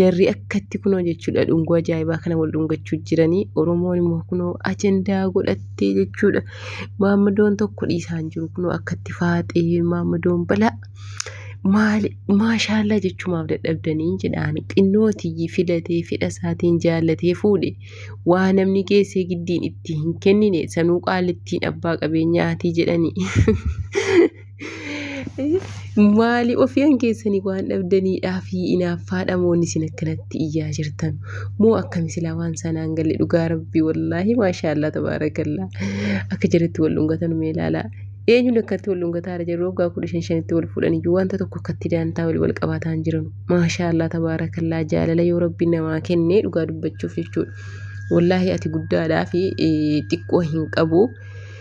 jarri akkatti kunoo jechuudha dhungoo ajaa'ibaa kana wal dhungachuu jiranii oromoon immoo kunoo ajandaa godhattee jechuudha maammadoon tokko dhiisaan jiru kunoo akkatti faaxee maammadoon balaa maali maashaallaa jechumaaf dadhabdanii jedhaan xinnootii filatee fedha isaatiin jaallatee fuudhe waa namni geessee giddiin itti hin kennine sanuu qaalittiin abbaa qabeenyaatii jedhanii. Maali ofiyaan keessanii waan dhabdaniidhaa fi inaaffaadha moon isin akkanatti iyyaa jirtan moo akkami silaa waan sanaan galle dhugaa rabbii wallaahi maashaallaa tabaarakallaa akka jirutti wal dhungatan mee ilaalaa eenyuun akkatti wal dhungataara jiru waggaa kudha shan shanitti wal fuudhan iyyuu wanta tokko akkatti daantaa wal wal qabaataan jiran maashaallaa tabaarakallaa jaalala yoo rabbiin namaa kennee dhugaa dubbachuuf jechuudha wallaahi ati guddaadhaa fi xiqqoo hin qabu.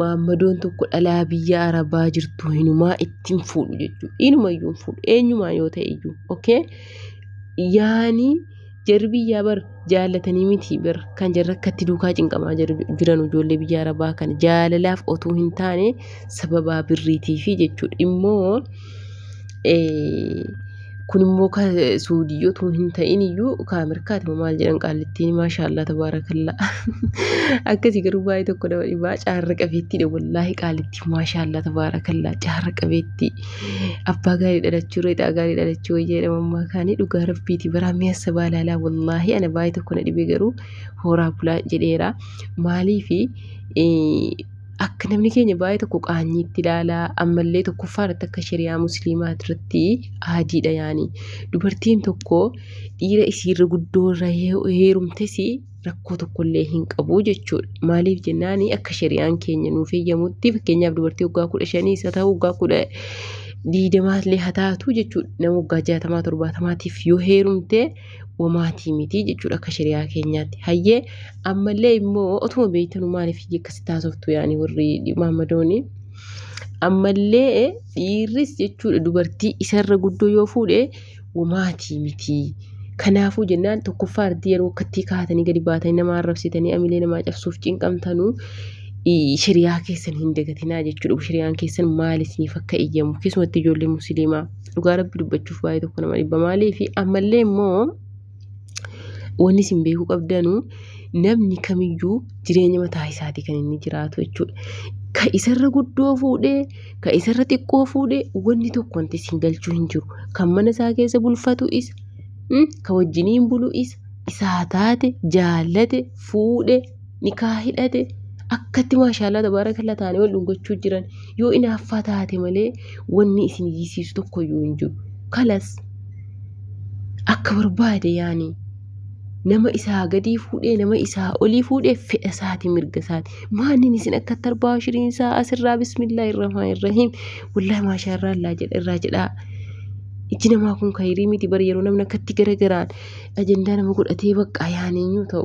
Maammadoon tokko dhalaa biyya arabaa jirtu hinumaa ittiin fuudhu jechuudha. Inuma iyyuu hin fuudhu. Eenyumaa yoo ta'e iyyuu. Okay? Yaani jarri biyyaa bar jaallatanii miti bar kan jarri akkatti duukaa cinqamaa jiru- jiran ijoollee biyya arabaa kana jaalalaaf otuu hin taane sababaa birriitiifi jechuudha. Immoo kun immoo ka suudii yoo ta'u hin ta'in iyyuu ka ameerikaati moo maal jedhan qaallittiin maashaallaa tabaarakallaa akkasii garuu baay'ee tokko nama dhibaa caarra qabeettiidha wallaahi qaalittiin maashaallaa tabaarakallaa caarra qabeettii abbaa gaarii dhalachuu reexaa gaarii dhalachuu wayya jedhama ammaa kaanii dhugaa rabbiiti baraa mi'assa baalaalaa wallaahi ana baay'ee tokko na dhibee garuu hooraa bulaa jedheera maaliifi akka namni keenya baay'ee tokko qaanyiitti ilaala ammallee tokkoffaa irratti akka shari'aa musliimaa irratti aadiidha yaani dubartiin tokko dhiira isiirra guddoo irra heerumtes rakkoo tokkollee hin qabu jechuudha maaliif jennaan akka shari'aan keenya nuuf eeyyamutti fakkeenyaaf dubartii waggaa kudha shanii isa ta'u waggaa kudha diidamaallee haa taatu jechuudha nama waggaa jaatamaa torbaatamaatiif yoo heerumte wamaatii miti jechuudha akka shari'aa keenyaatti. Hayyee ammallee immoo otuma beektanu maaliif hiyya akkasitti haasoftu yaani warri maammadooni. Ammallee dhiirris jechuudha dubartii isarra guddoo yoo fuudhe wamaatii miti. Kanaafuu jennaan tokkoffaa ardii yeroo akkattii kaatanii gadi baatanii nama arrabsitanii amilee namaa cabsuuf cinqamtanuu i- shari'aa keessan hin dagatinaa jechuudha. Shari'aan keessan maal isiniif akka eeyyamu keessumatti ijoollee musliimaa. dhugaa rabbi dubbachuuf baay'ee tokko nama dhibba maalii fi ammallee immoo wanni isin beekuu qabdanu namni kamiyyuu jireenya mataa isaatii kan inni jiraatu jechuudha. Ka isarra guddoo fuudhee ka isarra xiqqoo fuudhee wanni tokko wanti isin galchuu hin jiru. Kan mana isaa keessa bulfatu isa mm, ka wajjiniin bulu isa isaa taate jaallate fuudhe nikaa hidhate akkatti maashaallah tabaarakalla taanii wal dhungachuu jiran yoo inaaffaa taate malee wanni isin iyyisiisu tokko iyyuu hin jiru kalas akka barbaade yaani nama isaa gadii fuudhee nama isaa olii fuudhee fedha isaati mirga isaati maannin isin akka tarbaa shiriin isaa asirraa bismillah irramaa irrahiim wallah maashaa irraa illaa jedha irraa jedhaa ijji namaa kun kayirii miti bara yeroo namni akkatti garagaraan ajandaa nama godhatee baqqaa yaaneenyuu ta'u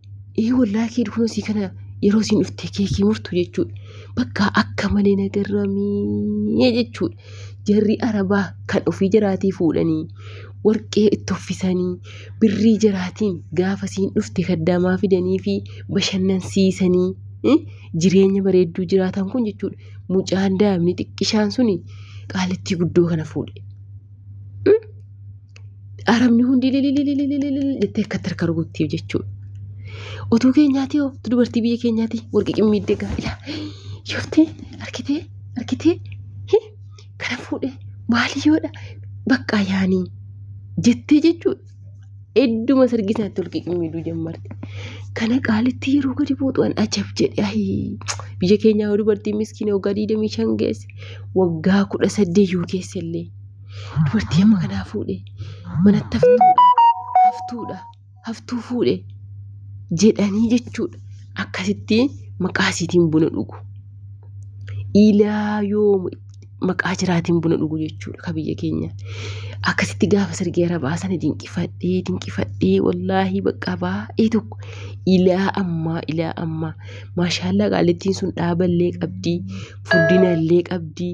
Ee wallaahi kee dhufuu sii kana yeroo siin dhuftee keekii murtu jechuudha. Bakka akka malee nagarramee jechuudha. Jarri arabaa kan ofii jiraatii fuudhanii warqee itti uffisanii birrii jiraatiin gaafa siin dhufte kaddaamaa fidanii fi bashannansiisanii eh, jireenya bareedduu jiraatan kun jechuudha. Mucaan daa'imni xiqqishaan suni qaalittii guddoo kana fuudhe. Arabni hundi jettee akkatti harka rukutteef jechuudha. Otuu keenyaati yoo dubartii biyya keenyaati warqii qimmiiddee gaa ilaa yooftee harkitee harkitee kana fuudhee maali yoodha baqqaa yaanii jettee jechuudha. Hedduma sirgi isaatti warqii qimmiiduu jammarti. Kana qaalitti yeroo gadi buutu an ajab jedhe ayii biyya keenyaa yoo dubartiin miskiina waggaa 25 geesse waggaa 18 yoo geesse illee. Dubartii amma kanaa fuudhe. Manatti haftuudha. Haftuudha. Haftuu fuudhe. Jedhanii jechuudha. Akkasitti maqaa isiitiin buna dhugu. Ilaa yoo maqaa jiraatiin buna dhugu jechuudha ka biyya keenya. Akkasitti gaafa sirgee arabaa sana dinqifadhee dinqifadhee wallaahi bakka baay'ee tokko ilaa ammaa ilaa ammaa maashaallaa qaalittiin sun dhaaballee qabdii furdinallee qabdii.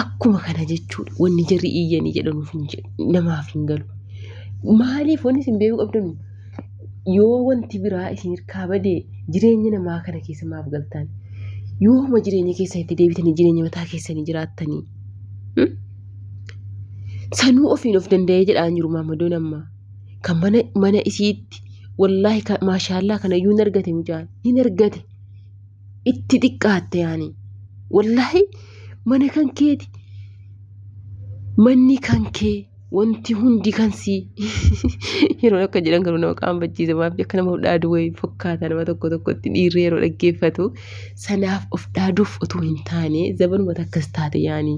Akkuma kana jechuudha wanni jarri iyyanii jedhanuuf hin jedhu namaaf hin galu. Maaliif wanni isin beekuu qabdanu yoo wanti biraa isin hirkaa badee jireenya namaa kana keessa maaf galtan yooma jireenya keessan itti deebitanii jireenya mataa keessanii jiraattanii hmm? sanuu ofiin of danda'ee jedhaan jiru maamadoon ammaa kan mana mana isiitti wallaahi ka- maashaallaa kana iyyuu hin argate mucaan hin argate itti xiqqaatte yaani wallahi mana kan keeti manni kan kee wanti hundi kan sii yeroo akka jedhan garuu nama qaanfachiisa maaf akka nama of dhaadu wayii fakkaata nama tokko tokkotti dhiirri yeroo dhaggeeffatu sanaaf of dhaaduuf utuu hin taane zabanuma takkas taate yaani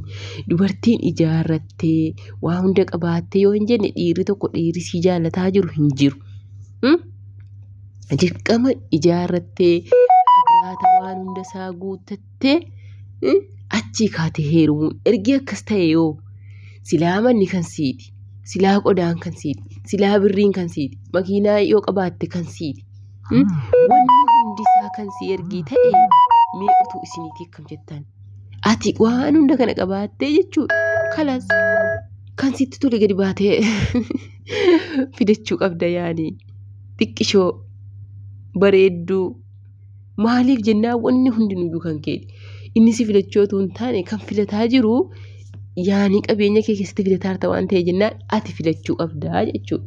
dubartiin ijaarrattee waa hunda qabaattee yoo hin jenne dhiirri tokko dhiirri sii jaallataa jiru hin jiru. Hmm? dirqama ijaarrattee agraata waan hunda isaa guuttattee achii kaate heerumuun ergi akkas ta'e yoo silaa manni kan siiti silaa qodaan kan siiti silaa birriin kan siiti makiinaa yoo qabaatte kan siiti wanni hundi isaa kan si ergii ta'e mee utuu isiniitii akkam jettan ati waan hunda kana qabaattee jechuudha kalas kan sitti tole gadi baatee fidachuu qabda yaani xiqqishoo bareedduu maaliif jennaa wanni hundinuyyuu kan keeti inni si filachuu otoo hin taane kan filataa jiru yaani qabeenya kee keessatti filataarta waan ta'e jennaan ati filachuu qabda jechuudha.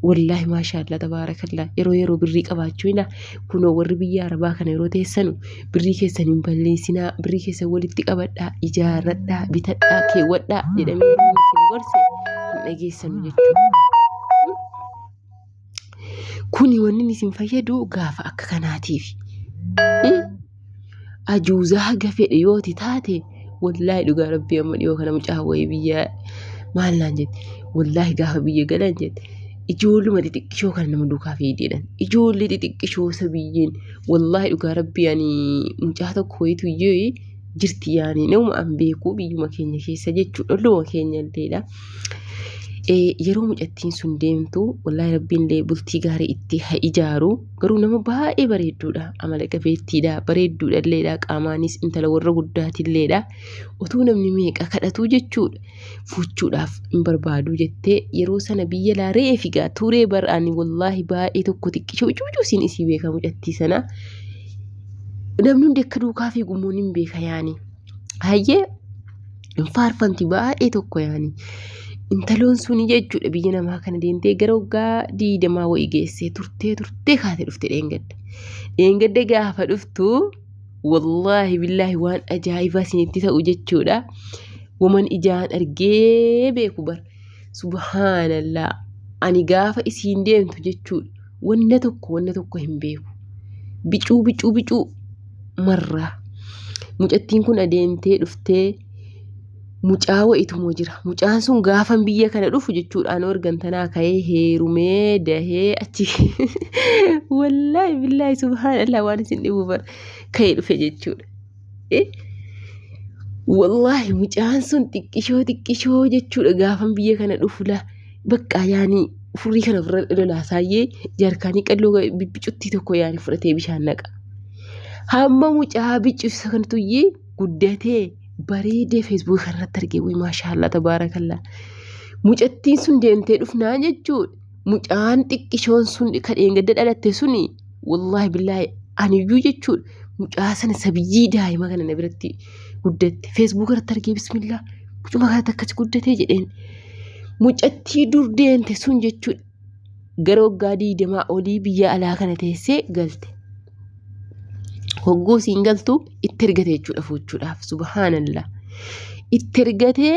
Wallaahi maashaallah tabaarakallaa yeroo yeroo birrii qabaachuu hina kunoo warri biyya arabaa kana yeroo teessanu birrii keessan hin balleessinaa birrii keessan walitti qabadhaa ijaarradhaa bitadhaa keewwadhaa jedhamee yeroo isin gorse hin dhageessanu jechuudha. Kuni wanni isin fayyadu gaafa akka kanaatiif. Ajuuzaa haga fedhe yoo ti taate wallaahi dhugaa rabbii amma dhiyoo kana mucaa wayii biyya maal naan jette wallaahi gaafa biyya galan jette ijoolluma xixiqqishoo kana nama duukaa fiideedhan ijoollee xixiqqishoo sabiyyeen wallaahi dhugaa rabbii ani mucaa tokko wayitu iyyee jirti yaani nama an beeku biyyuma keenya keessa jechuudha olluma keenya illeedha. Eh, yeroo mucattiin sun deemtu wallaahi rabbiin illee bultii gaarii itti ha ijaaru Garuu nama baay'ee bareedduudha. Amala qabeettiidha. Bareedduudha illeedha. Qaamaanis intala warra guddaati illeedha. Otuu namni meeqa kadhatuu jechuudha. Fuuchuudhaaf hin barbaadu jettee yeroo sana biyya laa re'ee figaa turee bar'aani wallaahi baay'ee tokko xiqqisha ucuucuu siin isii beekaa mucattii sana. Namni hundi akka duukaa fiigu immoo nin beeka yaani. hayyee faarfanti baay'ee tokko yaani. Intaloon suni jechuudha biyya namaa kana deemtee gara waggaa diidamaa wayii geessee turtee turtee kaatee dhufte dheengadda. Dheengadda gaafa dhuftu wallaahi billaahi waan ajaa'ibaa isinitti ta'u jechuudha. Waman ijaan argee beeku bara. Subhaanallah ani gaafa isiin deemtu jechuudha wanna tokko wanna tokko hin beeku bicuu bicuu bicuu marraa mucattiin kun adeemtee dhuftee mucaa wa'itumoo jira mucaan sun gaafan biyya kana dhufu jechuudha anoo ergantanaa ka'ee heerumee dahee achi wallaahi billaahi subhaanallah waan isin dhibu bara ka'ee dhufe jechuudha. Wallaahi mucaan sun xiqqishoo xiqqishoo jechuudha gaafan biyya kana dhufu laa bakka yaani furii kana ofirra lolaa saayyee jarkaanii qalloo bicuttii tokko yaani fudhatee bishaan naqa. Hamma mucaa bicuusa kan tuyyee guddatee bareedee feesbuuka kanarratti argee wayii maashaallah tabaarakallaa. Mucattiin sun deemtee dhufnaa jechuudha. mucaan xiqqishoon sun ka dheengadda dhalatte suni wallaahi billaahi aniyyuu jechuudha mucaa sana sabiyyii daa'ima kana na biratti guddatte feesbuuka irratti argee bismillaa mucuma kanatti akkasi guddatee jedheen mucattii dur deente sun jechuudha gara waggaa diidamaa olii biyya alaa kana teessee galte hogguu siin galtu itti ergate jechuudha fuuchuudhaaf subhaanallah itti ergatee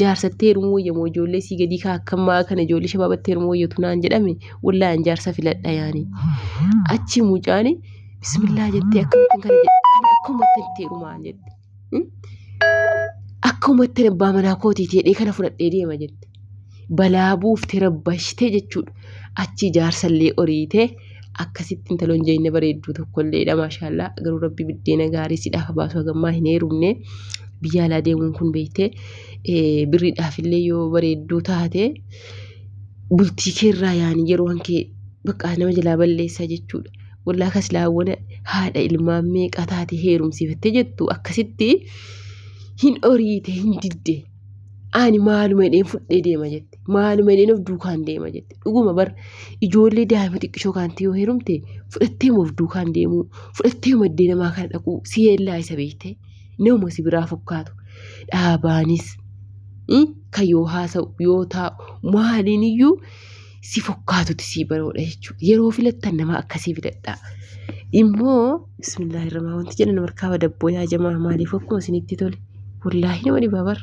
jaarsatti heerumuu wayya moo ijoollee sii gadii kaa akkammaa kana ijoollee shabaabatti heerumuu wayyatu naan jedhame wallahi an jaarsa filadha yaani achi mucaani bismillaa jettee akkamittiin kana jedhe kana akkumatti itti heerumaa jette Hmm? akkumatti abbaa manaa kootii jedhee kana fudhadhee deema jette balaa buufte rabbashte jechuudha achi jaarsallee oriitee akkasitti intaloon jeyna bareedduu tokkolleedha maashaallaa garuu rabbi biddeena gaarii sidhaaf baasu hagammaa hin heerumne biyya alaa deemuun kun beeyte birriidhaafillee yoo bareedduu taate bultii keerraa yaani yeroo hankee baqqaa nama jalaa balleessaa jechuudha. Wallaa kaslaawwana haadha ilmaan meeqaa taate heerumsiifattee jettu akkasitti hin oriite hin didde. Ani maaluma jedheen fudhee deema jette. Maaluma jedheen of duukaan deema jette. Dhuguma bar ijoollee daa'ima xiqqishoo kaanti yoo heerumte fudhattee of duukaan deemuu fudhattee maddee namaa kana dhaquu si yeellaa isa beektee nama si biraa fakkaatu dhaabaanis kan yoo haasa'u yoo taa'u maaliin iyyuu si fakkaatuti si baroodha jechuudha. Yeroo filattan nama akkasii filadha. Immoo bismillaahi irraa wanti jedhan markaaba dabboo yaa jamaa maaliif akkuma isinitti tole wallaahi nama dhibaa bara.